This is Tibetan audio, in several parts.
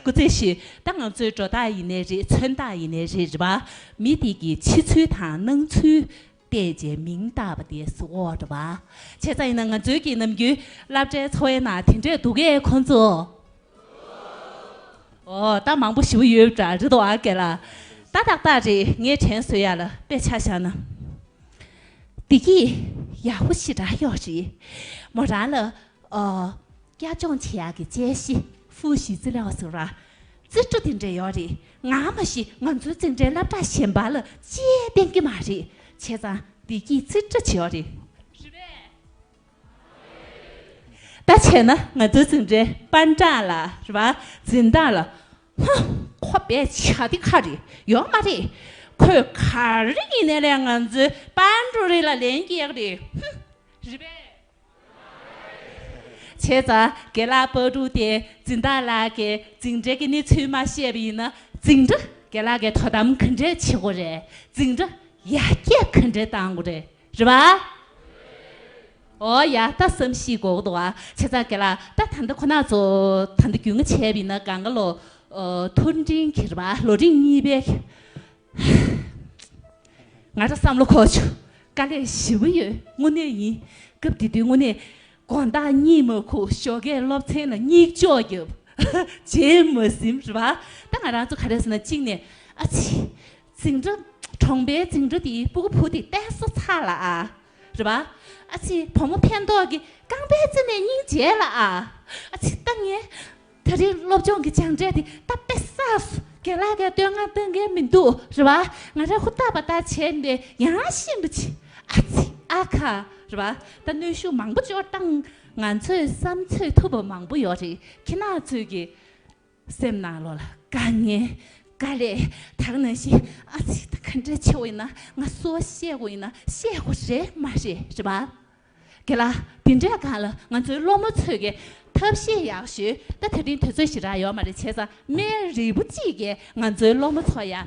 སྐུ་ཚེ་ཞིག་ད་ང་ཚོའི་འགྲོ་སྟངས་ཡིན་ནའི་རེད་མཚོན་སྟངས་ཡིན་ནའི་རེད་རེད་པ། མི་དེ་གི་ཕྱི་ཚུལ་དང་ནང་ཚུལ་བལྟས་རྗེས་མིང་བཏགས་པ་དེ་སུ་འོ་རེད་པ། བྱས་ཙང་ཡིན་ན་ང་ཚོའི་གི་ནམ་རྒྱུན་བསླབ་གྲྭའི་འཚོ་བའི་ནང་དེ་འདྲས་འདུག་གས་ཁོང་ཚོ། འོ་ད་མང་པོ་ཞི་བོ་ཡོད་འདྲ་རེད་འདུག་གས་ལ། ད་ཏག་ཏག་རེད་ངས་དྲན་བཟོས་ཡ་ལ་དཔེ་ཆ་བཞག་ན། བདེ་སྐྱིད་ཡག་པོ་ཞིག་རག་ཡོད་རེད། མོ་རང་ལ་སྐྱབས་སྦྱོང་བྱེད་ཡག་གི་དཔྱད་གཞི་ཧྥུའུ་ཞི་ཙི་ལའོ་ཟེར་བ། རྩིས་སྤྲོ་དེ་འདྲས་ཡོད་རེད་ང་མ་ཤི་ང་ཚོའི་རྩིས་འབྲས་བསླབ་གྲྭ་གཞན་པ་ལ་དཔྱད་བསྟན་གྱི་མ་རེད་བྱས་ཙང་བདེ་སྐྱིད་རྩིས་སྤྲོ་བྱས་ཡོད་རེད། ད་བྱས་ན་ང་ཚོའི་རྩིས་འབྲས་པར་འདྲ་ལ་རེད་བ་འཛིན་སྟངས་ལ་ཧཱུྃ། ཁོ་པའི་བྱ་དེ་ག་རེ་ཡོད་མ་རེད། ཁོས་ག་རེ་ཡིན་ནའི་ལས་ང་ཚོའི་དཔའ་འབྲུག་རི་ལ་ལན་བསྐྱེལ་རེད་ཧཱུྃ། རི་བས། བྱས་ཙང་དགེ་ལགས་དཔའ་འབྲུག་དེ་འཛིན་བདག་ལགས་ཀྱིས་འཛིན་གྲྭའི་གནས་ཚུལ་མ་ཤེས་པ་ཡིན་ན་འཛིན་གྲྭ་དགེ་ལགས་ཀྱིས་དོ་དམ་ག་འདྲས་བྱེད་དགོས་རེད་འཛིན་གྲྭ་ཡར་རྒྱས་ག་འདྲས་གཏང་དགོས་རེད། རེད་བ། ཨོ་ཡ་ད་བསམ་གཞིག་གོ་གདོ་བ་ཆེ་ཙག་གེ་ལ་ད་ད་འདི་ཁོ་ན་ཚོ་ད་འདི་རྒྱུས་ངན་བྱས་པ་ཡིན་ན་གང་ག་ལོ་ཐུར་འབྲིང་གི་རེད་བ་ལོ་རིང་གཉིས་པའི་ཧཧཧཧ་ང་ད་བསམ་བློ་ཁོག་ཆུ་དཀའ་ལས་ཞི་བ་ཡོད་དངོས་གནས་ཡིན་སྐབས་དེ་དུས་དངོས་གནས་དགོན་བདག་གཉིས་མ་ཁུག་ཞོ་གས་སློབ་ཚན་ལ་སྙིགས་འཇོག་རྒྱབ་ཧཧ་བྱས་མ་ཟིན་རེད་བ་ད་ང་རང་ཚོ་ག་རེ་ཟེར་ན་གཅིག་ནས་ཨ་ཕྱི། རྫིང་འབྲུ། གྲོང་པའི་རྫིང་འབྲུ་དེའི་སྤུ་གུ་བུ་དེ་བལྟས་སོ་ཚ་ལ། རེ་བ། ཨ་ཕྱི་བུ་མོ་ཕན་འདོགས་ཀྱི་རྐང་པའི་རྩེ་ནས་སྙིང་རྗེ་ལ། ཨ་ཕྱི་ལྟ་ངན། ད་རིང་སློབ་སྦྱོང་གི་སྦྱངས་འབྲས་དེ་ད་དཔེ་སངས་སོ། རྒན་ལགས་ཀྱང་སྟོད་སྔགས་བཏོན་མཁན་མི་འདུག་རེ་བ། ང་རང་ཧུར་ཐག་པ་ལྟར་བྱས་ནས་ཡང་ཤིན་ཏུ་ཆེ། ཨ་ཕྱི་ཨ་ཁ། རེ་བ། ད་གནོད་ཤུགས་མང་པོ་སྤྱོར་སྟངས། ང་ཚོས་བསམ་ཚོད་ཐུབ་པ་མང་པོ་ཡོད་རེད་ཁྱི་ནག་ཚོས་ཀྱིས། སེམས་ནང་བློ་ལ་དཀའ་ངལ་དཀའ་ལས་དག་ན་ཞེ་ཨ་ཚིག་དང་ག་འདྲ་ཆེ་བས་ན་ང་གསོལ་བ་བཤད་དགོས་ཡིན་ན་བཤད་དགོས་རེད་མ་རེད་རེད་པ་གལ་ལ་དེ་འདྲས་གང་ལ་ང་ཚོའི་སློབ་མ་ཚོས་གི་ཐབས་ཤེས་ཡག་ཞུས་ད་ཐེ་བྲིན་དེ་ཚོས་ཞེ་དྲག་ཡོད་མ་རེད་བྱས་ཙང་མའི་རིལ་བུ་གཅིག་གིས་ང་ཚོའི་སློབ་མ་ཚོ་ཡང་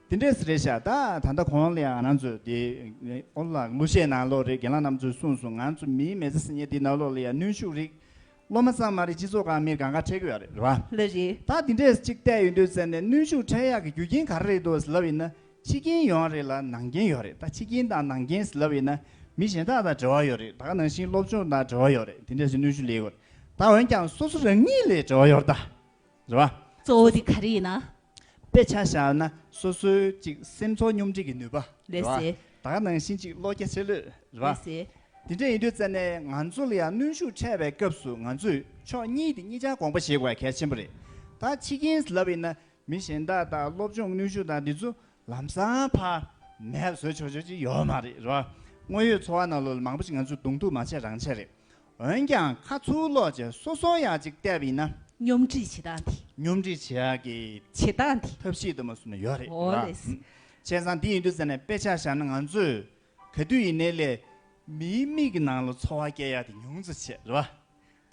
དེ་འདྲས་སུ་རེད་ཤག་ད་ད་ལྟ་གོང་ལ་ང་རང་ཚོས་དེ་ཨོ་ལ་ལགས་ལོ་ཤས་ནང་ལོགས་རེད་རྒན་ལགས་རྣམ་ཚོས་གསུངས་སོང་ང་ཚོ་མིའི་མེ་ཚེ་སྲིད་ཉེ་དེ་ནང་ལོགས་ལ་ཡང་གནོན་ཤུགས་རིགས་སློབ་མ་ཙམ་མ་རེད་སྤྱི་ཚོགས་ཁང་མིར་གང་དགའ་འཕྲད་གི་ཡོད་རེད་བ། ལ་རེད། ད་དེ་འདྲས་སུ་གཅིག་བལྟས་ཡོད་འདོད་ཟེར་ནས་གནོན་ཤུགས་འཕྲད་ཡག་གི་རྒྱུ་རྐྱེན་ག་རེ་རེད་འདོད་ཟེར་ལབ་ཡིན་ན་ཕྱི་རྐྱེན་ཡོང་ཡག་རེད་ལ་ནང་རྐྱེན་ཡོད་རེད་ད་ཕྱི་རྐྱེན་དང་ནང་རྐྱེན་ཟེར་ལབ་ཡིན་ན་མི་གཞན་དག་དང་འབྲེལ་བ་ཡོད་རེད་ད་ག་ནང་བཞིན་སློབ་སྦྱོང་དང་འབྲེལ་བ་ཡོད་རེད་དེ་འདྲས་སུ་གནོན་ཤུགས་ལེགས་ཡོད་རེད་ད་འོན་ཀྱང་སོ་སོ་རང་ཉིད་ལས་འབྲེལ་བ་ཡོད་རེད་ད། རེད་བ། གཙོ་བོ་དེ་ག་རེ་ཡིན་ན། དཔེ་ཆ་བཞག་ན་སོ་སོའི་ཅིག་སེམས་ཚོར་སྙོམས་སྒྲིག་གི་ནུས་པ། རེད་བ། ད་ག་ནང་བཞིན་ཅིག་བློ་རྒྱ་ཆེ་ལོས། རེད་བ། དེ་འདྲ་ཡིན་དུས་བཙལ་ནས་ང་ཚོ་ལ་ཡང་གནོན་ཤུགས་ཕྲད་པའི་སྐབས་སུ་ང་ཚོས་ཕྱོགས་གཉིས་དེ་གཉིས་ཆ་དགོངས་པ་བཞེས་དགོས་པ་གལ་ཆེན་པོ་རེད། ད་ཕྱི་རྒྱལ་ལབ་ཡིན་ན་མི་གཞན་དག་དང་སློབ་སྦྱོང་གནོན་ཤུགས་དང་དེ་ཚོ་ལམ་སང་ཕ་མས་བཟོས་ཆོག་ཆོག་ཅིག་ཡོད་མ་རེད། རེད་བ། དངོས་ཡོད་འཚོ་བ་ནང་ལོ་ལ་མང་པོ་ཞིག་ང་ཚོས་གདུང་ཐུག་མ་བྱས་རང་བྱས་རེད། འོན་ཀྱང་ཁ་མཆུ་གློག་ཅེས་སོ་སོ་ཡག་ཅིག་བལྟས་པ་ཡིན་ན། སྙོམས་སྒྲིག་བྱེད་སྟངས་དེ། སྙོམས་སྒྲིག་བྱེད་ཡག་གི། བྱེད་སྟངས་དེ། ཐབས་ཤེས་དུ་མ་གསུམ་ནི་ཡོད་རེད། འོ་ལེ། བྱས་ཙང་འདི་ཡིན་དུས་ཟེར་ནས་དཔེ་ཆ་བཞག་ན་ང་ཚོས་ག་དུས་ཡིན་ནའི་ལས། མིའི་མིག་གི་ནང་ལ་འཚོ་བ་བསྐྱལ་ཡག་དེ་ཉུང་ཙོ་བྱས་རེད་བ།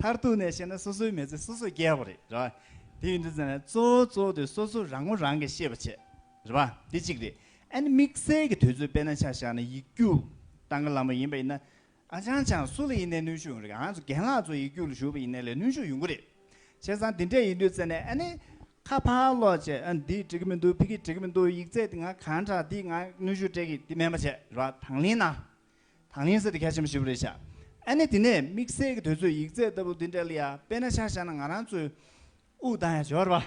མཐར་ཐུག་ནས་བཤད་ན་སོ་སོའི་མི་ཚེ་སོ་སོས་བསྐྱལ་བ་རེད་རེད་བ། དེ་ཡིན་དུས་ཟེར་ནས་གཙོ་བོ་གཙོ་བོ་དེ་སོ་སོ་རང་ངོ་རང་གིས་ཤེས་པ་བྱས་རེད་བ། དེ་གཅིག་རེད། ཨ་ནི་དམིགས་བསལ་གྱི་དུས་ཚོད་དཔེ་ན་ཆ་བཞག་ན་ཡིག་རྒྱུགས་སྟངས་ཀ་ལམ་པ་ཡིན་པ་ཡིན་ན། ཨ་ཅང་ཅང་སུ་ལ་ཡིན་ནའི་གནོན་ཤུགས་ཡོང་རེད་ཨང་རྒན་ལགས་ཚོ་ཡིག་རྒྱུགས་ལ་ཞུགས་པ་ཡིན་ནའི་ལས་གནོན་ཤུགས་ཡོང་གི་རེད། བྱས་ཙང་འདི་འདྲས་ཡིན་དུས་ཟེར་ནས་ཨ་ནི། ཁ་ཕར་སློག་བྱས་ཨ་འདིས་འགྲིག་གི་མི་འདུག་ཕི་གིས་འགྲིག་གི་མི་འདུག་ཡིག་རྩད་འདི་ང་གང་དྲག་འདིས་ང་གནོན་ཤུགས་སྤྲད་གི་འདི་མེད་མ་བྱས་ར་དང་ལེན་ན། དང་ལེན་ཟེར་དེ་གལ་ཆེན་པོ་ཞིག་རེད་ཤག་ཨ་ནི་དེ་ནས་དམིགས་བསལ་གྱི་དུས་ཚོད་ཡིག་རྩད་ལྟ་བུ་འདི་འདྲས་ལ་ཡ་དཔེ་ན་ཤག་བཞག་ན་ང་རང་ཚོའི་དབུགས་ལྡང་ཡ་བྱེད་བ་རེད་པ།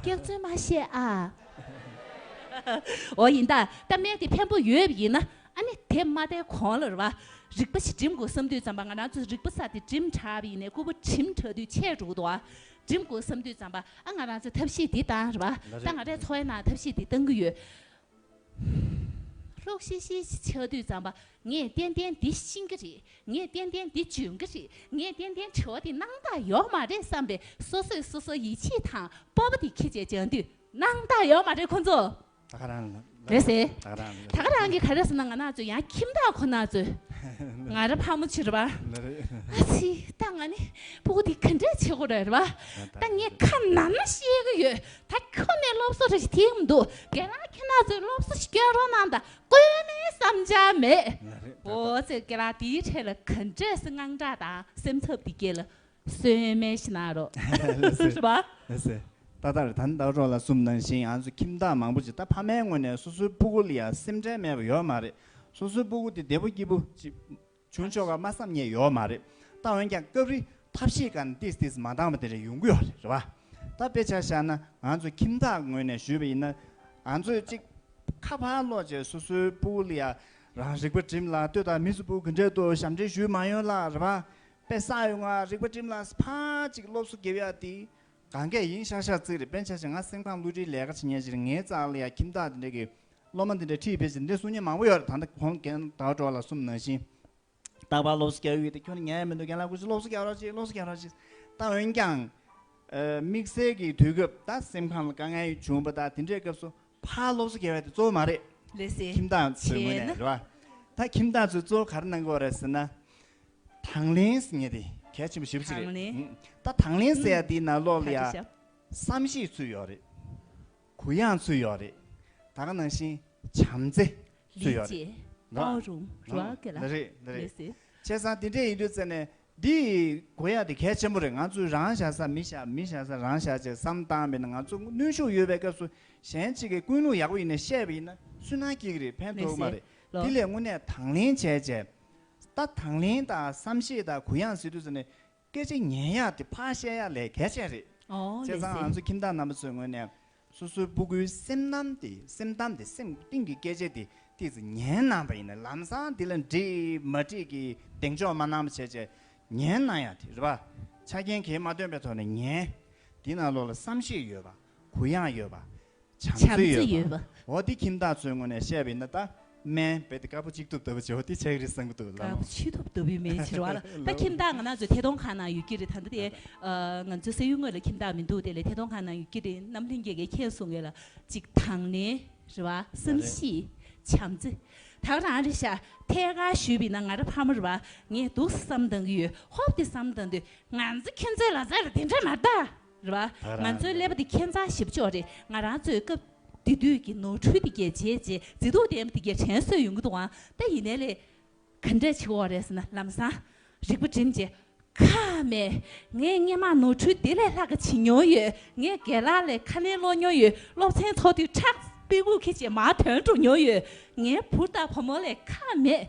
སྐྱག་རྫུན་མ་བཤད་ཨཱ། འོ་ཡིན་ད་ལྟ་སྨན་དེ་ཕན་པོ་ཡོད་ཡིན་ན་ཨཱ་ནི་དེ་མ་བསྡད་གོང་ལ་རེ་བ་རིག་པ་ཞིག་འགྲིམ་དགོས་བསམ་དུས་ཙམ་པ་ང་རང་ཚོ་རིག་པ་ས་དེ་འགྲིམ་དྲགས་པ་ཡིན་ནས་སྐུ་པོ་འགྲིམ་དྲགས་དུས་ཆད་འགྲོ་གི་འདུག་ཨཱ་འགྲིམ་དགོས་བསམ་དུས་ཙམ་པ་ཨཱ་ང་རང་ཚོ་ཐབས་ཤེས་འདི་བཏང་རེ་བ་ད་ང་རས་འཚོ་བའི་ནང་ཐབས་ཤེས་འདི་བཏང་གི་ཡོད་ལྷོག་ཤེ་ཤེ་ཞེས་ཆགས་དུས་བརྩམས་པ་ངས་ཏན་ཏན་འདི་ཤིང་གི་རེད་ངས་ཏན་ཏན་འདི་ལྗོན་གི་རེད་ངས་ཏན་ཏན་དྲི་བ་འདི་སྣང་བརྟགས་ཡོག་མ་རེད་བསམ་པའི་སོ་སོས་སོ་སོ་ཡིད་ཆེས་དང་སྤོབས་པ་དེ་ཁྱེད་ཅག་སྦྱང་དུས་སྣང་བརྟགས་ཡོག་མ་རེད་ཁོང་ཚོ། ད་ག་རང་རེད་ཟེར། ད་ག་རང་གི་ག་རེ་ཟེར་ན་ང་ནག་ཚོས་ཡང་ཁྱིམ་བདག་ཁོ་ནག་ཚོས་ང་ར་ཕ་མོ་བྱེད་རེད་བ། ཨ་ཙི་ད་ང་ནི་བུ་གུ་དེ་ག་འདྲས་བྱེད་དགོས་རེད་བ། ད་ངས་ཁ་ནམ་ན་ཤེས་གི་ཡོད་ད་ཁྱོད་ནས་སློབ་གསོ་རེ་ཞིག་ཐེག་མི་འདུག་རྒན་ལགས་ཁྱེད་ནག་ཚོས་སློབ་གསོ་ཞིག་སྐྱོན་རོགས་གནང་ད་དཀོན་མེད་བསམ་འཆར་མེད། འོ་ཚེ་རྒན་ལགས་དེའི་འཕྲལ་ལ་ག་འདྲས་སུ་དངངས་སྐྲག་དང་སེམས་འཚབ་དེ་སྐྱེ་ལ་གསོན་སྨན་ཞིག་གནང་རོགས། ཧྲི་པ། ཨེ་ཟེ། ད་ལྟར་ད་ནི་ལྡག་གྲོགས་ལ་གསུམ་ནང་བཞིན་ང་ཚོ་ཁྱིམ་བདག་མང་པོ་ཅིག་ད་ཕ་མའི་སྔུན་ནས་སོ་སོའི་སྤུ་གུ་ལ་ཡང་སེམས་ཁྲལ་མེད་པ་ཡོད་མ་རེད། སོ་སོའི་སྤུ་གུ་དེ་བདེ་པོ་སྐྱིད་པོ་ཅིག། བྱུང་ཆོག་ག་མ་བསམ་ཉེས་ཡོག་མ་རེད་ད་འོན་ཀྱང་སྐབས་རེ་ཐབས་ཤེས་ག་ནས་ཏིས་ཏིས་མ་འདང་བ་དེ་རེ་ཡོང་གི་ཡོག་རེད་བ་ད་དཔེ་ཆ་བཞག་ན་ང་ཚོ་ཁྱིམ་བདག་ངོས་ནས་ཞུས་པ་ཡིན་ན་ང་ཚོས་གཅིག་ཁ་ཕར་སློག་རྗེས་སོ་སོའི་སྤུ་བོ་ལ་ཡ་རང་རིག་པ་བྲིམས་ལ་ལྟོས་དང་མི་སུ་སྤུ་གི་འགྲེལ་དུ་ཞབས་འདྲེན་ཞུས་མ་ཡོང་ལ་རེད་བ་དཔེ་བསགས་ཡོང་ང་རིག་པ་བྲིམས་ལ་ཕ་གཅིག་སློབ་གསོ་དགེ་བ་ཡག་དེ་ག་འགས་ཡིན་ཤག་ཤག་ཚིག་རེ་དཔེ་ཆ་བཞག་ང་སེམས་ཁམས་བསླུ་བྲིད་ལས་ཀ་བྱེད་ཉེས་ཅི་རེད་ངའི་རྩ་ལ་ཡ་ཁྱིམ་བདག་དེ་འདྲ་གི་སློབ་མ་འདི་འདྲའི་ཁྲིད་ཕེབས་ཟིན་འདི་གསུང་མཁན་མང་པོ་ཡོད་རེད་ད་ལྟ་ཁོང་གན་ད་གྲོགས་ལ་གསུམ་ནང་བཞིན། རྟག་པར་སློབ་གསོ་རྒྱག་ཡུལ་དེ་ཁྱོད་ནི་ཉལ་ཡ་མི་འདུག་གན་ལགས་ཁུ་སིར་སློབ་གསོ་རྒྱག་རོགས་གྱིས་སློབ་གསོ་རྒྱག་རོགས་གྱིས། ད་འོན་ཀྱང། དམིགས་བསལ་གྱི་དུས་སྐབས་ད་སེམས་ཁམས་ལ་དཀའ་ངལ་བྱུང་བ་ད་དེ་འདྲའི་སྐབས་སུ་ཕར་སློབ་གསོ་རྒྱག་ཡ་དེ་གཙོ་བོ་མ་རེད། ལས་ཟེར་ཁྱིམ་བདག་ཚོའི་ངོས་ནས་རེད་བ། ད་ཁྱིམ་བདག་ཚོས་གཙོ་བོ་ག་རེ་གནང་དགོས་རེད་ཟེར་ན། དང་ལེན་ཟེར་ངེས་དེ་གལ་ཆེན་པོ་ཞེ་བོ་གཅིག་རེད། ད་དང་ལེན་ཟེར་ཡ་དེའི་ནང་ལོགས་ལ་ཡ། བསམ་ཤེས་ཚུལ་ཡོད་རེད། གུ་ཡངས་ཚུལ་ཡོད་རེད། ད་ག་ནང་བཞིན་བྱམས་བརྩེ་ཚུལ་ཡོད་རེད། འདྲ་རེད། བྱས་ཙང་དེ་འདྲས་ཡིན་དུས་ཙེ་ནས་འདི་གོ་ཡ་དེ་གལ་ཆེན་པོ་རེད་ང་ཚོས་རང་བཞག་ས་མི་བཞག་མི་བཞག་ས་རང་བཞག་ཅེས་བསམ་སྟངས་མེད་ན་ང་ཚོ་ནུས་ཤུགས་ཡོད་པའི་སྐབས་སུ་གཞན་གཅིག་གི་ཀུན་སློང་ཡག་པོ་ཡིན་ནས་བཤད་པ་ཡིན་ན་སུན་སྣང་སྐྱེ་གི་རེད་ཕན་ཐོག་མ་རེད་དེ་ལས་དངོས་གནས་དང་ལེན་བྱས་བྱས་ད་དང་ལེན་དང་བསམ་ཤེས་དང་གུ་ཡངས་ཟེར་དུས་ཙེ་ནས་སྐད་ཆ་ཉན་ཡག་དེ་ཕ་བཤད་ཡག་ལས་གལ་ཆེན་རེད། བྱས་ཙང་ང་ཚོ་ཁྱིམ་བདག་རྣམ་པ་ཚོའི་ངོས་ནས་སོ་སོའི་སྤུ་གུའི་སེམས་གཏམ་དེ་སེམས་གཏམ་དེ་སེམས་གཏིང་གི་སྐད་ཆ་དེ་ཏིག་ཙམ་ཉན་གནང་བ་ཡིན་ན་ལམ་སང་འདི་ལ་འགྲིག་མ་འགྲིག་གི་གདེང་འཇོག་མ་གནང་བ་བྱས་བྱས་ཉན་གནང་ཡག་དེ་རེད་པ། ཆ་རྐྱེན་གལ་མ་འདོན་པའི་ཐོག་ནས་ཉན། དེས་ན་བློ་ལ་བསམ་ཤེས་ཡོད་པ། གུ་ཡངས་ཡོད་པ། བྱམས་བརྩེ་ཡོད་པ། འོ་འདི་ཁྱིམ་བདག་ཚོའི་ངོས་ནས་བཤད་པའི་ན་ད་མན། རྦད་དེ་དཀར་པོ་གཅིག་ཐུབ་ལྟ་བུ་བྱེད་འོ་འདི་ཆག་རིས་བཟང་པོ་འདུག་ལབ། དཀར་པོ་ཆིག་ཐུབ་ལྟ་བུའི་མེད་ཕྱིར་བ་ལ་ད་ཁྱིམ་བདག་ང་ན་ཚོའི་ཐད་གཏོང་ཁང་ནང་ཡོད་ཀྱི་རེད་ད་ད་དེ། ང་ཚོའི་སེ་ཡུལ་དངོས་ལ་ཁྱིམ་བདག་མི་འདུག་དེ་ལས་ཐད་གཏོང་ཁང་ནང་ཡོད་ཀྱི་རེད་ནམ་ལྷན་རྒྱས་ཀས་ཁྱེར་སོང་ཡོད་ལ་ཅིག་དང་ནི་རེད་བ། བསམ་ཤེས། བྱམས་བརྩེ། དག་རང་རེད་ཤག་ཐད་ཀར་ཞུས་པའི་ན་ང་ར་ཕ་མ་རེད་བ་ངས་སྡུག་བསམ་བཏང་གི་ཡོད་ཧོབ་དེ་བསམ་བཏང་དུས་ང་ཚོ་ཁྱོད་ཚོའི་ལ་ཟ་ར་དེ་འདྲ་མ་གཏང། རེད་བ། ང་ཚོའི་ཀླད་པ་འདི་ཁྱད་མཚར་ཞིབ་ཕྱོགས་རེད་ང་རང་ཚོས་སྐབས་དེ་དུས་ཀྱི་ནོར་འཁྲུལ་དེ་གས་བྱས་རྗེས་མཛེས་སྡུག་ལྡན་པ་དེ་གས་དྲན་གསོས་ཡོང་གི་འདུག་ཨང་ད་ཡིན་ནའི་ལས་ག་འདྲ་བྱེད་འོག་རེད་ཟེར་ན་ལམ་སང་རིག་པ་བསྒྲིམ་རྗེས། ཁ་མེད། ངས་སྔས་མ་ནོར་འཁྲུལ་དེ་ལས་ལྷག་ག་བྱེད་མྱོང་ཡོད་ངས་དགེ་ལགས་ལས་ཁ་ལེན་སློག་མྱོང་ཡོད་སློབ་ཚན་ཐོག་དུས་ཁྲག་དཔེ་ཁུག་ཁེ་བྱས་མར་དོན་འགྲུབ་མྱོང་ཡོད་ངའི་བུ་ལྟ་བུ་མོ་ལས་ཁ་མེད།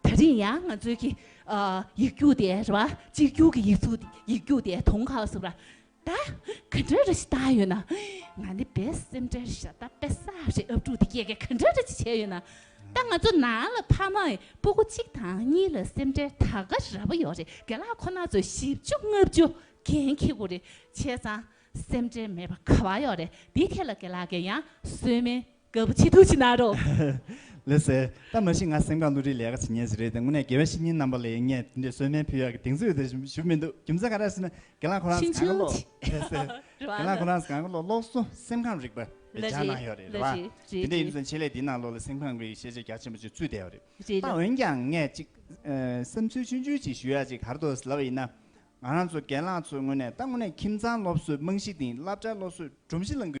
ད་རིང་ཡང་ང་ཚོའི་གི་ཡིག་རྒྱུགས་དེ་རེད་བ་གཅིག་རྒྱུགས་གི་ཡིག་ཚུགས་ཡིག་རྒྱུགས་དེ་དོང་ཁ་བ་སུབ་ར་ད་ག་འདྲ་རེ་ཞིག་བཏང་ཡོད་ན་ང་ནི་བེ་སེམས་ཁྲལ་རེ་ཞག་ད་བེ་བསགས་རེ་ཨབ་ཕྲུག་དེ་སྐྱེ་གེ་ག་འདྲ་རེ་ཅིག་བྱས་ཡོད་ན་ད་ང་ཚོ་ནང་ལ་ཕ་མ་ཡི་སྤུ་གུ་གཅིག་དང་གཉིས་ལ་སེམས་ཁྲལ་ད་ག་ར་བ་ཡོད་རེ་དགེ་ལགས་ཁོ་ན་ཚོས་བཞི་བཅུ་ལྔ་བཅུ་གན་ཁེ་གུ་རེ་བྱས་ཙང་སེམས་ཁྲལ་མེད་པ་ག་བ་ཡོད་རེ་དེ་ཐད་ལ་དགེ་ལགས་གེ་ཡང་གསོལ་མེད། ག་བུ་ཆེ་ཐུགས་ཀྱི་ནཱ་རོ། ལེ་ཟེར། ད་མ་གཞི་ང་སེམས་ཁམས་བསླུ་བྲིད་ལས་ཀ་བྱེད་ཉེས་ཞིག་རེད་དེ་དངོས་གནས་དགེ་བའི་བཤེས་གཉེན་རྣམ་པ་ལས་ངས་དེ་འདྲའི་གསོལ་སྨན་ཕུལ་ཡག་གི་གདེང་ཚོད་དེ་ཞུ་མི་འདུག་རྒྱུ་མཚན་ག་རེ་ཟེར་ན་དགེ་ལགས་ཁོ་རང་གང་གི་ལོག་ལེ་ཟེར། དགེ་ལགས་ཁོ་རང་གང་གི་ལོག་ལོག་སུ་སེམས་ཁམས་རིག་པ་ལེ་སྦྱར་གནང་ཡོད་རེད་རེད་བ། དེ་འདྲའི་ཡིན་ཚེ་ཆེད་ལས་འདིའི་ནང་ལོག་ལེ་སེམས་ཁམས་རིག་ཤེས་བྱ་རྒྱ་ཆེན་པོ་ཅིག་ཚུད་བསྡད་ཡོད་རེད། ད་འོན་ཀྱང་ངས་ཅིག་བསམ་ཚུལ་ཆུང་ཆུང་ཅིག་ཞུ་ཡག་ཅིག་གར་དོ་ཟེར་ལབ་ཡིན་ན། ང་རང་ཚོ་དགེན་ལགས་ཚོས་དངོས་གནས་ད་དངོས་གནས་ཁྱིམ་ཚང་སློབ་གསོའི་རྨང་གཞི་དེ་ཡིན་བསླབ་གྲྭའི་སློབ་གསོའི་སྒྲོམ་གཞི་ལ་འགོད།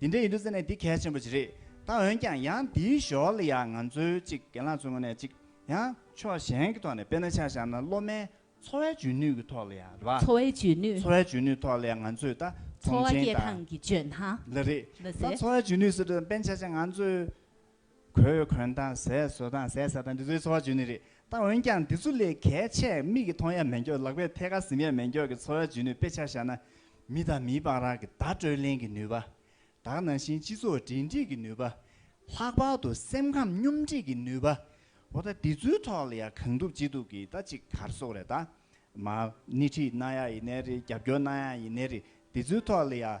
འདི་འདྲ་ཡིན་འགྲོ་ཟེར་ནས་འདི་གལ་ཆེན་པོ་ཞིག་རེད་ད་འོན་ཀྱང་ཡང་འདིའི་ཞོར་ལ་ཡང་ང་ཚོའི་གཅིག་གྱེན་ལངས་ཚུར་ངོས་ནས་གཅིག་ཡང་ཕྱོགས་གཞན་གྱི་ཐོག་ནས་དཔེར་ན་ཆ་བཞག་ན་སློབ་མའི་འཚོ་བའི་འཇོན་ནུས་ཀྱི་ཐོག་ལ་ཡང་རེད་པ། འཚོ་བའི་འཇོན་ནུས། འཚོ་བའི་འཇོན་ནུས་ཐོག་ལ་ཡང་ང་ཚོས་ད་འཚོ་བ་སྐྱེལ་སྟངས་ཀྱི་བརྗོད་སྣང། ལ་རེད། ད་འཚོ་བའི་འཇོན་ནུས་ཟེར་འགྲོ་དཔེར་ན་ཆ་བཞག་ང་ཚོས། གོས་གོན་དང་ཟས་ཟོས་དང་ཟས་ཟ་དང་འདི་ཚོའི་འཚོ་བ་བརྗོད་ནི་རེད་ད་འོན་ཀྱང་འདི་ཚོ་ལས་གལ་ཆེ་མིག་གིས་མཐོང་ཡ་མེད་མགྱོགས་ལག་པས་ཐད་ཀར་གཟིམ་ཡ་མེད་མགྱོགས་ཀྱི་འཚོ་བ་བརྗོད་ནུས་དཔེ་ཆ་བཞག་ན། མི་དང་མིའི་དཔང་རགས་ཀྱི་བརྡ་སྤྲོད་ལེན་གྱི་ནུས་པ། དག་ནང་བཞིན་སྤྱི་ཚོགས་འབྲེལ་འདྲིས་ཀྱི་ནུས་པ། ལྷག་པར་དུ་སེམས་ཁམས་སྙོམས་སྒྲིག་གི་ནུས་པ། འོ་ད་འདི་ཚོའི་ཐོག་ལ་ཡང་གང་ཐུབ་ཅི་ཐུབ་ཀྱིས་ད་ཅིག་གར་སོགས་རེད་ད། མ། སྣེ་ཁྲིད་གནང་ཡ་ཡི་ནས་རེད་རྒྱབ་སྐྱོར་གནང་ཡ་ཡི་ནས་རེད་འདི་ཚོའི་ཐོག་ལ་ཡང།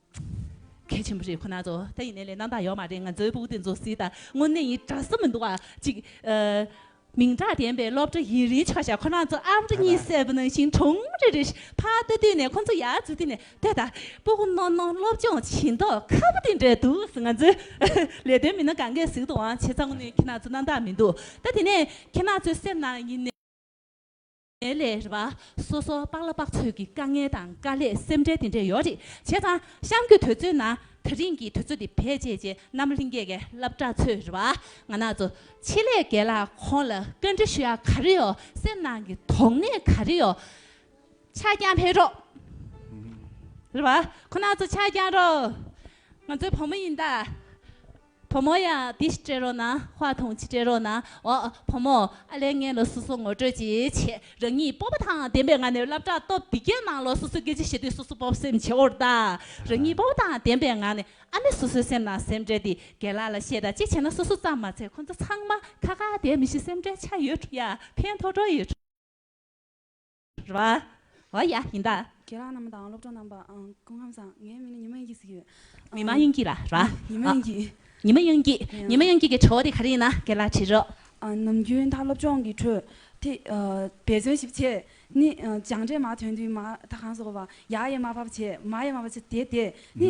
གལ་ཆེན་པོ་རེད་ཁོ་ན་ཚོ་ད་ཡིན་ནའི་ལས་རྣམ་དག་ཡོད་མ་རེད་ང་ཚོའི་བུ་དེ་ཚོ་སྲིད་དང་དངོས་གནས་ཡིན་གྲ་ས་མི་འདུག་བ་ཅིག་མིང་གྲགས་ལྡན་པའི་སློབ་གྲ་ཡིན་རིན་ཆོག་ཤ་ཁོ་ན་ཚོ་ཨབ་རི་གཉིས་གསལ་པོ་ནང་ཞིང་གྲོང་རེ་རེ་ཕར་ལྟ་དུས་ནས་ཁོ་ཚོ་ཡར་འཛུལ་དུས་ནས་དེ་ད་པོ་ཁོ་ནོ་ནོ་སློབ་སྦྱོང་བྱེད་མདོག་ཁ་པོ་དེ་འདྲ་འདུག་ང་ཚོའི་ལས་དོན་མི་སྣ་གང་གས་ཟིག་དུའང་བྱེད་ཚང་ནས་ཁྱེད་ན་ཚོ་རྣམ་དག་མི་འདུག་ད་དེ་ནས་ཁྱེད་ན་ཚོའི་སེམས་ནང་ཡིན་ནའི། དེ་ལས་རེ་བ་སོ་སོ་དཔག་ལ་དཔག་ཚོད་ཀྱི་དཀའ་ངལ་དང་དཀའ་ལས་སེམས་ཁྲལ་དེ་འདྲས་ཡོད་རེད་བྱས་ཙང་གཤམ་གྱི་དུས་ཚོད་ནང་ད་རིང་གི་དུས་ཚོད་དེ་བེད་སྤྱད་རྗེས་རྣམ་གླིང་རྒྱལ་ཁའི་བསླབ་གྲྭ་ཚོའི་རེ་བ་ང་ནག་ཚོ་ཆེད་ལས་དགེ་ལགས་ཁོང་ལ་བཀའ་འདྲི་ཞུ་ཡ་ག་རེ་ཡོད་སེམས་ནང་གི་དོགས་གནས་ག་རེ་ཡོད་ཆ་རྐྱང་འཕེལ་རོགས། རེ་བ་ཁོ་ནག་ཚོ་ཆ་རྐྱང་རོགས། ང་ཚོའི་བུ་མོ་ཡིན་ད། བུ་མོ་ཡ། འདི་ཞིག་སྤྲད་རོགས་གནང། བྷ་དུང་ཅིག་སྤྲད་རོགས་གནང། འོ། བུ་མོ། ཨ་ལས་ངའི་ལོ་སོ་སོ་ངོ་སྤྲོད་ཅིག་བྱེད། རང་ཉིད་སྤོབས་པ་དང་ལྡན་པའི་ངང་ནས་བསླབ་བྱ་སྟོབས་འདི་སྐྱེ་གནང་ལོ་སོ་སོའི་སྐད་ཆ་བཤད་དུས་སོ་སོ་སྤོབས་སེམས་ཆེ་བོར་བལྟ། རང་ཉིད་སྤོབས་པ་དང་ལྡན་པའི་ངང་ནས་ཨ་མས་སོ་སོའི་སེམས་ནང་སེམས་ཁྲལ་དེ་རྒན་ལགས་ལ་བཤད་དང་གཅིག་བྱས་ན་སོ་སོ་ཙམ་མ་ཚད་ཁོ་ཚོ་ཚང་མ་ཁ་ཁ་བསྡད་མི་ཤེས་སེམས་ཁྲལ་ཆགས་ཡོད་ཡ་ཕན་ཐོགས་འགྲོ་ཡོད། རེད། རེད་བ། བ་ཡ། ཡིན་ད། ཁྱེད་རང་རྣམས་དང་སློབ་གྲོགས་རྣམས་པ་ཨང། སྐུ་ངམ་བཟང། ངའི་མིང་ནི་ཉི་མ་དབྱིན་སྐྱིད་ཟེར་གྱི་ཡོད། མི་མ་དབྱིན་སྐྱིད་ར། ར། ཉི་མ་དབྱིན་སྐྱིད། ཉི་མ་དབྱིན་སྐྱིད། ཉི་མ་དབྱིན་སྐྱིད་ཀྱི་ཁྲོ་བོ་དེ་ག་རེ་ཡིན་ན་སྐད་ལ་དྲིས་རོགས། ནམ་རྒྱུན་ད་སློབ་སྦྱོང་གི་ཁྲོད་དེ། འབད་བརྩོན་ཞིབ་ཆེ། ནི། སྦྱངས་འབྲས་མ་ཐོན་དུས་མ། ད་གང་ཟོ་བ། ཡ་ཡེ་མ་བ་བ་བྱེད། མ་ཡེ་མ་བ་བྱེད་དེ་དེ། ནི།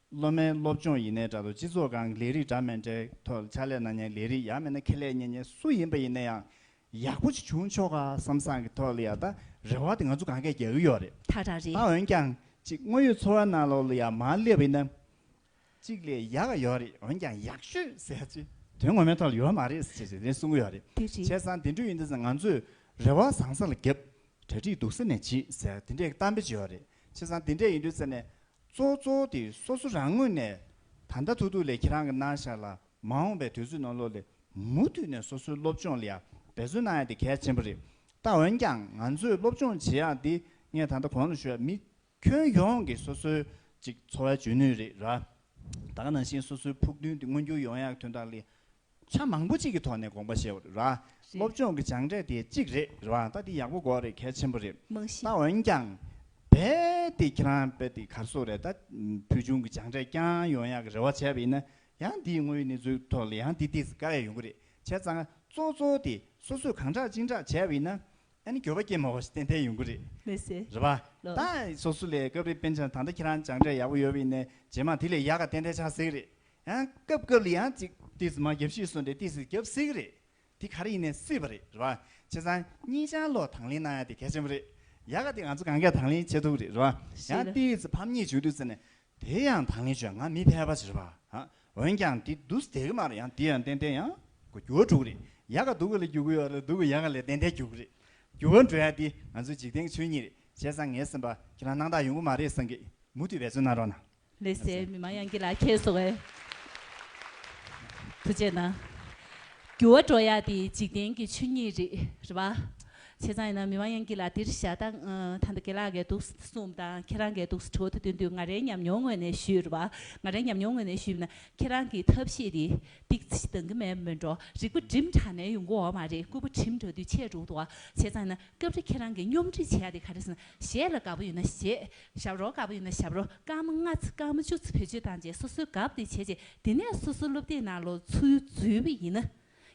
སློབ་མའི་སློབ་སྦྱོང་ཡིན་ནའི་འདྲ་དོ་སྤྱི་ཚོགས་གང་གི་ལས་རིགས་འདྲ་མིན་དེའི་ཐོག་ལ་ཕྱག་ལས་གནང་མྱངས་ལས་རིགས་ཡག་མེད་ན་ཁེ་ལས་གཉེར་མྱངས་སུ་ཡིན་པ་ཡིན་ན་ཡང་ཡག་པོ་ཅིག་བྱུང་ཆོག་ག་བསམ་བསམ་གི་ཐོག་ལ་ཡང་དག་རེ་བ་དེ་ང་ཚོ་གང་གས་རྒྱག་གི་ཡོད་རེད་ད་རག་རེད། ད་འོན་ཀྱང་ཅིག་དངོས་ཡོད་འཚོ་བ་ནང་ལོགས་ལ་ཡང་མང་སླེབས་ཡིན་ན་ཅིག་ལས་ཡག་ག་ཡོད་རེད་འོན་ཀྱང་ཡག་ཤོས་ཟེར་ཅིག་དོན་ངོ་མའི་ཐོག་ལ་ཡོད་མ་རེད་ཟེར་ཅིག་དེ་གསུང་གི་ཡོད་རེད་དེ་རེད། བྱས་ཙང་དེ་འདྲུ་ཡིན་དུས་ང་ཚོས་རེ་བ་བཟང་ས་ལ་བརྒྱབ་གྲ་སྒྲིག་སྡུག་ས་ནས་བྱེད་ཟེར་དེ་འདྲའི་གཏམ་དཔེ་བྱས་ཡོད་རེད་བྱས་ཙང་དེ་འདྲས་ཡིན་དུས་ཙམ་ནས་གཙོ་གཙོ་དེ་སོ་སོ་རང་ངོས་ནས་ད་ལྟ་ཐུག་ཐུག་ལས་ཁྱེད་རང་གི་གནང་བཞག་ལ་མ་འོངས་པའི་དུས་ཚོད་ནང་ལོགས་ལས་མུ་མཐུད་ནས་སོ་སོའི་སློབ་སྦྱོང་ལ་ཡང་འབད་བརྩོན་གནང་ཡ་དེ་གལ་ཆེན་པོ་རེད་ད་འོན་ཀྱང་ང་ཚོས་སློབ་སྦྱོང་བྱེད་ཡ་འདི་ངས་ད་ལྟ་གོང་ལ་ཞུ་ཡ་མི་ཁྱོན་ཡོངས་ཀྱི་སོ་སོའི་ཅིག་འཚོ་བའི་འཇོན་ནུས་རེད་ར་ད་ག་ནང་བཞིན་སོ་སོའི་ཕུགས་འདུན་དེ་མངོན་འགྱུར་ཡོང་ཡ་གི་དོན་དག་ལས་ཆ་མང་པོ་གཅིག་གི་ཐོག་ནས་དགོངས་པ་བཞེས་བ་རེད། སློབ་སྦྱོང་གི་སྦྱངས་འབྲས་དེ་གཅིག་རེད་རེད་བ་ད་འདི་ཡག་པོ་གོ་རེད་གལ་ཆེན་པོ་རེད། རྨང་གཞི། ད་འོན་ཀྱང། བས་ཏེ་ཁྱེད་རང་བས་ཏེ་གར་སོགས་རེད་ད། ཕུལ་བྱུང་གི་སྦྱངས་འབྲས་རྐྱང་ཡོང་ཡག་གི་རེ་བ་བྱས་པ་ཡིན་ན། ཡང་འདིའི་དངོས་ཡོད་གནས་ཚུལ་ཐོག་ལ་ཡང་འདི་འདི་ཟེར་དཀའ་ཡག་ཡོང་གི་རེད་བྱས་ཙང། གཙོ་གཙོ་དེ་སོ་སོས་གང་དྲག་ཅིང་དྲག་བྱས་པ་ཡིན་ན། ཨ་ནི་འགྱོད་པ་སྐྱེ་མ་བ་ཞིག་ཏན་ཏན་ཡོང་གི་རེད། མི་སེ། རེད་བ། ལོ། ད་སོ་སོ་ལས་སྐབས་རེ་དཔེ་འཆང་ད་ལྟ་ཁྱེད་རང་སྦྱངས་འབྲས་ཡག་པོ་ཡོད་པ་ཡིན་ན། རྗེས་མ་དེ་ལས་ཡག་ག་ཏན་ཏན་ཆགས་སྲིད་གི་རེད། ཡང་སྐབས་སྐབས་ལ་ཡང་ཅིག། ཏིས་སི་མ་རྒྱབ་ཤིས་གསུངས་ཏེ་ཏིས་སི་རྒྱབ་སྲིད་ཀྱི་རེད། དེ་ག་རེ་ཡིན་ནས་སྲིད་པ་རེད་རེད་པ། བྱས་ཙང་གཉིས་ཆང་ལོག་དང་ལེན་གནང་ཡ་དེ་གལ་ཆེན་པོ་རེད། ཡ་ག་དེ་ང་ཚོ་གང་གས་དང་ལེན་བྱེད་ཐུབ་རེད་རེད་པ། ཡང་ཏིས་སི་ཕམ་ཉེས་བྱུང་དུས་ཟེར་ནས། དེ་ཡང་དང་ལེན་བྱུང་ཡ་ང་མི་ཕལ་པ་ཞིག་རེད་པ། འོན་ཀྱང་དེ་སྡུག་ས་དེ་ག་མ་རེད་ཡང་དེ་ཡང་ཏན་ཏན་ཡང་གོ་རྒྱུ་བ་འགྲོ་གི་རེད། ཡ་ག་སྡུག་གི་ལ་རྒྱུ་གི་ཡོད་ལ་སྡུག་གི་ཡ་ག་ལས་ཏན་ཏན་རྒྱུ་གི་རེད། རྒྱུ་བ་འགྲོ་ཡ་དེ་ང་ཚོའི་འཇིག་རྟེན་གྱི་ཆོས་ཉིད་རེད། བྱས་ཙང་ངས་སེམས་པ་ཁྱེད་རང་སྣང་དག་ཡོང་གི་མ་རེད་བསམ་གི། མུ་མཐུད་འབད་བརྩོན་གནང་རོགས་གནང། ལེ་སའི་མི་མང་ཡང་གི་ལ་ཁྱེད་སོ་བའི། དུ་བྱས་ན། འགྱུ་བ་འགྲོ་ཡ་དེ་འཇིག་རྟེན་གྱི་ཆུ་གཉིས་རི་རི་བ། བྱས་ཙང་ཡིན་ན་མི་མང་ཡང་གི་ལ་དེར་བཞག་ད་ད་འདི་གེ་ལ་གས་འདུག་གསུངས་དང་ཁྱེད་རང་གས་འདུག་ཁྲོ་བོ་དེ་དོན་དུ་ང་རའི་ཉམས་མྱོང་ངོས་ནས་ཞུས་རི་བ། ང་རའི་ཉམས་མྱོང་ངོས་ནས་ཞུས་མིན་ན་ཁྱེད་རང་གི་ཐབས་ཤེས་དེ་ཏིག་ཅི་འདང་གི་མེད་མོད་འགྲོ་རིག་པ་འགྲིམ་དྲགས་ནས་ཡོང་གི་འོ་མ་རེད་སྐུད་པ་འགྲིམ་དྲགས་དུས་ཆད་འགྲོ་གི་འདུག་བྱས་ཙང་ཡིན་ན་སྐབས་རེ་ཁྱེད་རང་གི་སྙོམས་སྒྲིག་བྱས་ཡ་དེ་ག་རེ་ཟེར་ན་གཞས་ལ་དགའ་པོ་ཡོད་ན་གཞས་ཞབས་རོ་དཀར་པོ་ཡིན་ན་ཞབས་རོ་དཀར་མོ་ལྔ་ཚེ་དཀར་མོ་བཅུ་ཚེ་བེད་སྤྱོད་བཏང་རྗེས་སོ་སོའི་གབ་དེ་བྱས་རྗེས་དེ་ནས་སོ་སོའི་སློབ་དེབ་ནང་ལོ་ཚུགས་ཡུལ་འཛུལ་བས་ཡིན།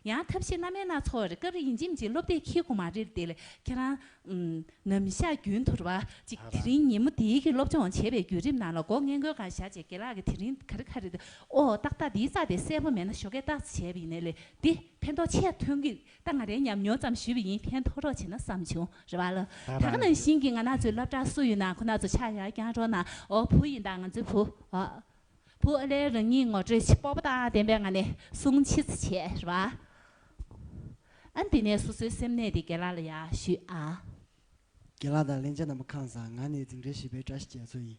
ཡང་ཐབས་ཤེས་སྣ་མའི་སྣ་ཚོགས་རེ་སྐབས་རེ་ཡིན་ཅིམ་ཅིག་སློབ་དེབ་ཁྱི་གོང་མ་རིར་དེ་ལས་ཁྱེད་རང། ནམ་བཞག་རྒྱུན་དུ་རེ་བ་ཅིག་དེ་རིང་ཉིན་མོ་འདིའི་གི་སློབ་སྦྱོང་བྱེད་པའི་བརྒྱུད་རིམ་ནང་ལ་སྒོ་ངན་གོས་གང་བཞག་རྗེས་དགེ་ལགས་ཀྱི་དེ་རིང་ག་རེ་ག་རེ་དེ་ཨོ་ཏག་ཏག་འདིའི་རྩ་དེ་གསལ་པོ་མེད་ན་ཞོ་ཁའི་རྟགས་ཚེ་བྱས་པས་ཡིན་ལས་འདི་ཕན་ཐོག་ཆེས་ཐོན་གི་ད་ང་རས་ཉམས་མྱོང་ཙམ་ཞུས་པ་ཡིན་ཕན་ཐོགས་རོགས་བྱས་ན་བསམ་བྱུང་རེད་བ་ལ། ད་ག་ནང་བཞིན་གྱི་ང་ནག་ཚོའི་སླབ་གྲགས་སུ་ཡོད་ན་ཁོ་ནག་ཚོ་ཆག་ཡག་ཀྱང་རོགས་ནག་འོག་བུ་ཡིན་ད་ང་ཚོའི་བུ་འོག་བུ་ཨ་ལས་རང་ཉིད་ངོ་སྤྲོད་སྤོབས་པ་དང་ལྡན་པའི་ང་ནས་གསུང་མཆིད་བྱས་རེད་བ། ཨ་འདི་ནས་སོ་སོའི་སེམས་གནས་དེ་དགེ་ལགས་ལ་ཡག་ཞུས་ཨ། དགེ་ལགས་དང་གླེང་བྱ་རྣམས་པ་ཁང་བཟང་ང་ནས་འཛིང་གྲྭ་བཞི་པའི་བཀྲ་ཤིས་རྒྱ་མཚོ་ཡིན།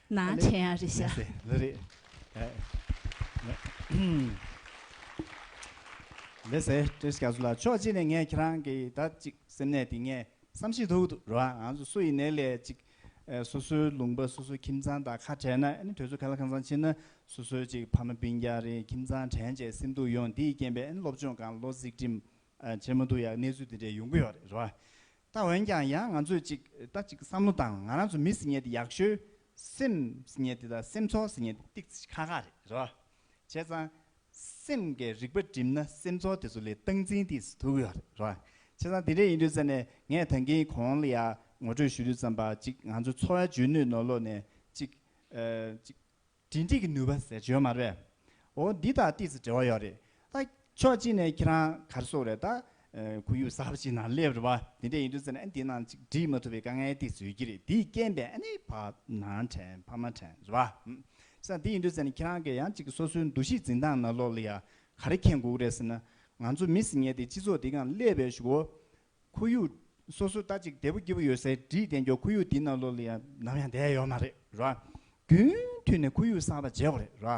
ན་ཆེན་ཡང་རེད་ཤག། ལེ་ཟེ། ལེ་ཟེ། ཀྲེ་ཤ་ཟུ་ལ་ཕྱོགས་གཅིག་ནས་ངས་ཁྱེད་རང་གི་ད་ཅིག་སེམས་ནད་དེ་ངས་བསམ་ཤེས་ཐུག་འདུག་རོ་ཨང་ཟུ་སུ་ཡི་ནད་ལས་ཅིག་སུ་སུའི་ལུང་པ་སུ་སུའི་ཁྱིམ་ཚང་དང་ཁ་བྲལ་ན་ཨ་ནི་དུས་ཚོད་ག་ལ་གང་ཙམ་ཕྱིན་ན་སུ་སུའི་ཅིག་ཕ་མ་སྤུན་རྒྱ་རེ་ཁྱིམ་ཚང་དྲན་བྱས་སེམས་སྡུག་ཡོང་འདིས་རྐྱེན་པས་ཨ་ནི་སློབ་སྦྱོང་གང་བློ་གཟིགས་འགྲིམས་བྱེད་མི་འདུག་ཡ་གནས་ཚུལ་དེ་འདྲས་ཡོང་གི་ཡོད་རེད་རེད་བ། ད་འོན་ཀྱང་ཡང་ང་ཚོས་ཅིག་ལྟ་ཅིག་བསམ་བློ་དང་ང་རང་ཚོ་མི་ཟེར་ཉེས་དེ་ཡག་ཤོས། སེམས་ཟེར་ཉེས་དེ་དང་སེམས་ཚོར་ཟེར་ཉེས་དེ་ཏིག་ཚིག་ཁ་ཁ་རེད་རེད་བ། བྱས་ཙང། སེམས་ཀྱི་རིག་པ་བསྒྲིམས་ན་སེམས་ཚོར་དེ་ཚོ་ལས་སྟངས་འཛིན་ཏིག་ཟེར་ཐུག་གི་ཡོད་རེད་རེད་བ། བྱས་ཙང་དེ་འདྲས་ཡིན་དུས་ཙམ་ནས་ངས་ད་གིན་གོང་ལ་ཡང་ངོ་སྤྲོད་ཞུ་དུས་ཙམ་པ་ཅིག་ང་ཚོའི་འཚོ་བའི་འཇོན་ནུས་ནོར་ལོག་ནས་ཅིག། འབྲེལ་འདྲིས་ཀྱི་ནུས་པ་ཟེར་བྱོན་མ་རེད། འོ་འདི་དང་ཏིས་སུ་འབྲེལ་བ་ཡོད་རེད་ད། ཕྱོགས་གཅིག་ནས་ཁྱེད་རང་གར་སོང་རེད་ད། ཁོར་ཡུག་གསར་པ་ཞིག་ནང་སླེབས་རེད་བ། དེ་འདྲ་ཡིན་དུས་ཟེར་ན་ཨ་འདི་ནང་ཅིག་འབྲི་མ་ཐུབ་པའི་དཀའ་ངལ་ཏིས་སུ་ཡོད་ཀྱི་རེད་དེའི་རྐྱེན་པས་ཨ་ནི་བག་ནང་དྲན་བག་མ་དྲན་རེད་བ། བྱས་ཙང་འདི་ཡིན་དུས་ཟེར་ན་ཁྱེད་རང་གིས་ཡང་ཅིག་སོ་སོའི་འདུ་ཤེས་འཛིན་སྟངས་ནང་ལོགས་ལ་ཡང་ག་རེ་མཁྱེན་དགོས་ཀྱི་རེད་ཟེར་ན། ང་ཚོ་མི་སེར་ཉེ་དེ་སྤྱི་ཚོགས་འདི་གང་སླེབས་པའི་ཞུ་བོ། ཁོར་ཡུག་སོ་སོ་ལྟ་ཅིག་དལ་པོ་སྐྱིད་པོ་ཡོད་སའི་བྲིས་བདེན་ཀྱོག་ཁོར་ཡུག་འདི་ནང་ལོག་ལ་ཡང་ནམ་ཡང་བསྡད་ཡོད་མ་རེད་རོ། རྒྱུན་མཐུད་ནས་ཁོར་ཡུག་གསར་པ་འཇལ་བ་རེད་རོ།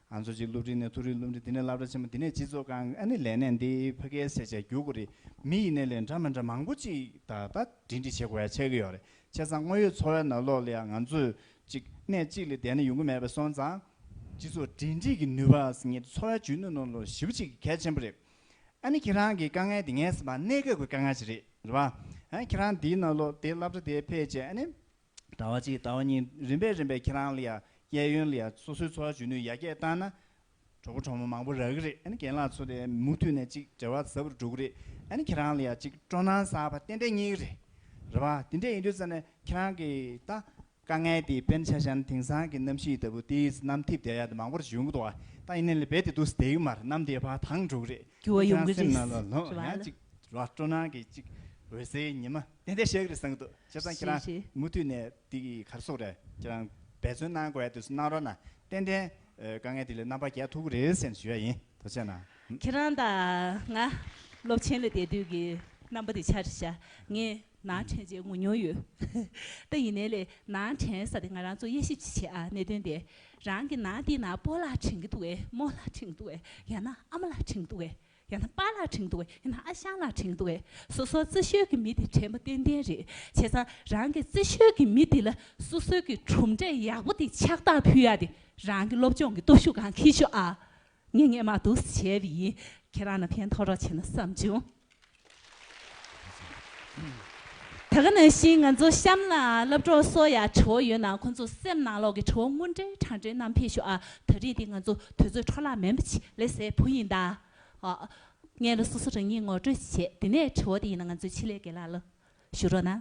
ང་ཚོ་གཅིག་སློབ་འབྲིང་ནས་ཐུག་རིགས་སློབ་འབྲིང་དེ་ནས་བསླབ་གྲྭ་ཆེན་མོ་དེ་ནས་སྤྱི་ཚོགས་ཁང་ཨ་ནི་ལས་གནས་འདི་ཕ་གའི་སེར་བྱེས་རྒྱུག་དགོས་རིགས་མི་ཡི་ནས་ལས་འདྲ་མི་འདྲ་མང་པོ་ཅིག་ད་ལྟ་འབྲིང་འབྲིང་བྱེད་དགོས་ཡ་ཆེ་གི་ཡོད་རེད་བྱས་ཙང་དངོས་ཡོད་འཚོ་བའི་ནང་ལོག་ལ་ཡང་ང་ཚོས་གཅིག་གནས་གཅིག་ལ་བསྡད་ན་ཡོང་གི་མེད་པས་སོང་ཙང། སྤྱི་ཚོགས་འབྲེལ་འདྲིས་ཀྱི་ནུས་པ་ཟེར་ངེས་འཚོ་བའི་འཇོན་ནུས་ནང་ལོག་ཞིབ་ཅིག་གལ་ཆེན་པོ་རེད། ཨ་ནི་ཁྱེད་རང་གི་དཀའ་ངལ་འདི་ངལ་སེམས་པ་གནས་སྐབས་ཀྱི་དཀའ་ངལ་ཞིག་རེད་རེད་བ། ཁྱེད་རང་འདིའི་ནང་ལོ་དེའི་བསླབ་བྱ་དེའི་ཕལ་ཆེར་ཨ་ནི། ཟླ་བ་གཅིག་ཟླ་བ་གཉིས་རིམ་པས་རིམ་པས་ཁྱེད་རང་ལ་ཡ་གྱལ་ཡོན་ལ་ཡ་སོ་སོའི་འཚོ་བ་འཇུ་ནུས་ཡ་གྱལ་བཏང་ན། གྲོགས་པོ་གྲོགས་མོ་མང་པོ་རག་གི་རེད་ཨ་ནི་རྒན་ལགས་ཚོ་དེ་མུ་མཐུད་ནས་ཅིག་འབྲེལ་བ་ཟབ་པོ་འགྲོ་གི་རེད་ཨ་ནི་ཁྱེད་རང་ལ་ཡ་ཅིག་སྤྲོ་སྣང་ཟབ་པ་ཏན་ཏན་རྙེད་གི་རེད་རེད་བ། དེ་འདྲས་ཡིན་དུས་ཙམ་ནས་ཁྱེད་རང་གིས་ད། དཀའ་ངལ་དེའི་དཔེར་ན་ཆ་ཤན་དེང་སང་གི་གནམ་གཤིས་ལྟ་བུ་དེའི་ཚེ་གནམ་ཐིབས་བརྒྱ་ཡར་དུ་མང་པོར་བྱུང་འདུག་ད་ཡིན་ནའི་ལེ་བལ་དེ་དུས་སུ་དེ་ཡུལ་མར་གནམ་དེའི་བར་ཐང་དྲུག་རེད་འགྱུར་བ་ཡོང་གི་རེད་ཟེར་བ་ལ། ར་སྤྲོ་སྣང་གི་ཅིག་འོད་ཟེར་ཉི་མ་ཏན་ཏན་ཞིག་རེད་བསམ་གི་འདུག་བྱས་ཙང་ཁྱེད་རང་མུ་མཐུད་ནས་འདི་གི་གར་སོགས་རེ་ཁྱེད་རང་འབད་བརྩོན་གནང་དགོས་ཡ་དུས་སུ་གནང་རོགས་གནང་ཏན་ཏན་དཀའ་ངལ་དེ་ལས་རྣམ་པ་རྒྱལ་ཐུབ་ཀི་རེད་བསམ་ཞུ་ཡ་ཡིན་དོ་ཆེ་ན། ཁྱེད་རང་དང་ང་སློབ་ཆེན་ལ་བསྡད་དུས་ཀྱི་རྣམ་པ་དེ་ཆ་རེ་བྱ་ངས་ནང་དྲན་བྱེད་ངོ་མྱོང་ཡོད། ད་ཡིན་ནའི་ལས་ནང་དྲན་ས་དེ་ང་རང་ཚོ་དབྱེ་ཞིབ་ཅིག་བྱེད་ཨ་གནད་དོན་དེ་རང་གི་ནང་དེ་ན་སྤོ་ལགས་དྲན་གི་འདུག་ཨེ་མོ་ལགས་དྲན་གི་འདུག་ཨེ་ཡང་ན་ཨ་མ་ལགས་དྲན་གི་འདུག་ཨེ་ཡང་ན་པཱ་ལགས་དྲན་གི་འདུག་ཨེ་ཡང་ན་ཨ་ཞང་ལགས་དྲན་གི་འདུག་ཨེ་སོ་སོ་རྩེ་ཤོད་ཀྱི་མི་དེ་དྲན་པ་ཏན་ཏན་རེད་བྱས་ཙང་རང་གི་རྩེ་ཤོད་ཀྱི་མི་དེ་ལ་སོ་སོའི་གི་གྲུབ་འབྲས་ཡག་པོ་དེ་ཕྱག་རྟགས་ཕུལ་ཡ་དེ་རང་གི་སློབ་སྦྱོང་གི་སྟོབས་ཤུགས་གང་ཁེལ་ཤོག་ཨ། ངས་ངས་མ་འདུག་ཟེར་བྱས་བས་ཡིན་ཁྱེད་རང་ལ་ཕན་ཐོགས་རོགས་བྱས་ན་བསམ་བྱུང། ད་ག་ནང་བཞིན་ང་ཚོ་གཤམ་ལ་སློབ་གྲོགས་སོ་ཡ་བྱོ་ཡོད་ན་ཁོ་ཚོ་སེམས་ནང་ལོག་གི་བྱོ་དངུལ་འདྲེ་གྲང་འདྲེ་རྣམས་འཕེལ་ཤོག་ཨ་ད་རིས་འདི་ང་ཚོ་དུས་ཚོད་འཕྲོ་བརླག་མེད་པ་ཆེ་ལེ་སེ་བུ་ཡིན་ད་ཨ་ངས་ལ་སོ་སོ་རང་ཉིད་ངོ་སྤྲོད་བྱེད་དེ་ནས་བྱོ་དེ་ཡིན་ན་ང་ཚོས་ཆེ་ལེ་གེ་ལ་ལ་ཞུ་རོགས་གནང།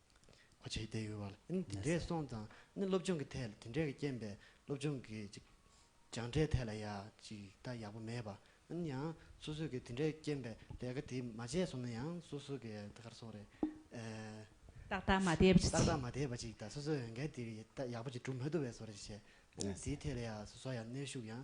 གོ་བྱེད་བསྡད་ཡོད་པ་ལ་ཨ་ནི་དེ་འདྲས་སོང་ཙང་ཨ་ནི་སློབ་སྦྱོང་གི་ཐད་ལ་དེ་འདྲས་ཀྱི་རྐྱེན་པས་སློབ་སྦྱོང་གི་སྦྱངས་འབྲས་ཐད་ལ་ཡག་ཅིག་ད་ཡག་པོ་མེད་པ་ཨ་ནི་ཡང་སོ་སོས་ཀྱི་དེ་འདྲས་རྐྱེན་པས་ལས་ཀ་དེ་མ་བྱས་སོང་ན་ཡང་སོ་སོ་ཀྱི་ད་གར་སོང་རེད། ཏག་ཏག་མ་བསྡད་པ་ཅིག་ཏག་ཏག་མ་བསྡད་པ་ཅིག་ད་སོ་སོས་འོས་འགན་དེ་ཡག་པོ་ཅིག་སྒྲུབ་མ་ཐུབ་པས་སོ་རེད་བྱས། ཨ་ནི་དེའི་ཐད་ལ་ཡང་སོ་སོ་ཡང་གནོན་ཤུགས་ཡང་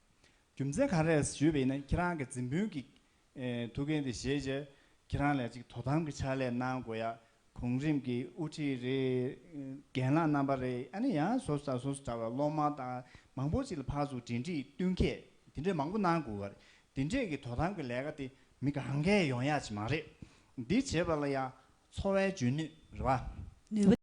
རྒྱུ་མཚན་ག་རེས་ཞུས་པས་ན་ཁྱེད་རང་གི་འཛིན་སྤུན་གྱི་ཐུགས་འགན་དེ་བཞེས་རྗེས་ཁྱེད་རང་ལས་ཅིག་དོ་དམ་གྱི་ཕྱག་ལས་གནང་དགོས་ཡ་གོང་རིམ་གྱི་དབུ་ཁྲིད་རེད་རྒན་ལགས་རྣམ་པ་རེད་ཨ་ནི་ཡང་བཟོ་ས་བཟོ་ས་འདྲ་བ་སློབ་མ་དང་མང་པོ་ཅིག་ལ་ཕར་ཚུར་འབྲེལ་འདྲིས་བསྟུན་མཁས་དེ་འདྲས་མང་པོ་གནང་དགོས་པ་རེད་དེ་འདྲས་ཀྱི་དོ་དམ་གྱི་ལས་ཀ་དེ་མི་གང་གས་ཡོང་ཡག་ཅིག་མ་རེད་འདི་བྱེད་པ་ལ་ཡང་འཚོ་བའི་འཇོན་ནུས་རེ་བ། ནུས་པ།